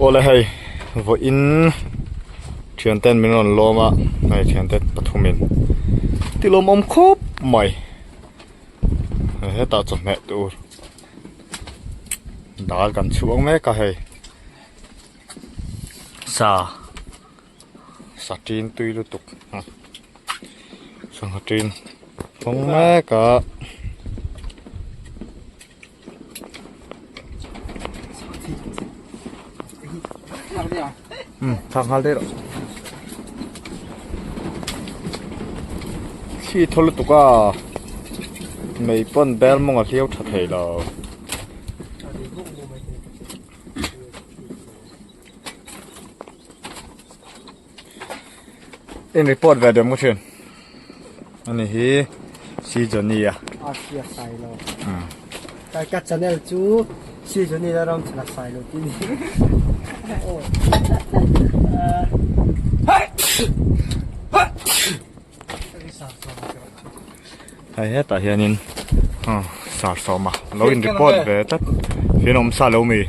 Aw la hei vawiin thiante an min rawn lawm a hei thiante pathum in tilawm awm khawp mai hei hetah chawhmeh tur dal kan chhuak mek a hei sa. Satin tui lutuk ah sangha ṭin hawng mek a. Umm chhak nghal daih rawh. Khi thaw lutuk a, mei pawn bel mawngah hliau ṭha thei lo. in report ve dem muchin ani hi si joni ya a si a sai lo kai ka channel chu si joni la ram chana sai lo tini oh Hei hetah hianin aw Sarsawma lo in report ve tlat fian awm sa lo a mi hei.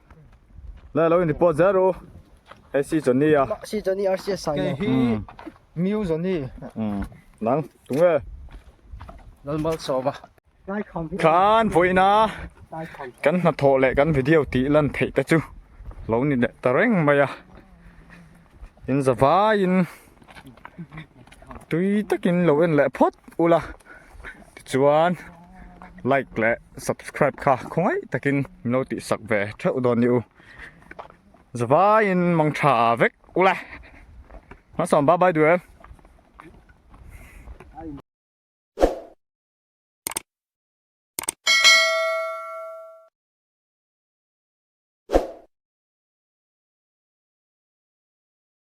Lai lo in report zer u. Hei si chon ni a. Si chon ni RCS sai lo. Hi miu zon ni. Um. Nang tunge. Lalmal sova. Khan voina kan na tho le kan video ti lan thei ta chu lo ni le ta reng mai a in zavai in tui takin lo en leh phawt ula tichuan like leh subscribe kha khawngaih takin min lo tih sak ve theuh dawn nih u zavaiin mang tha vek ula hmasawn bye bye duel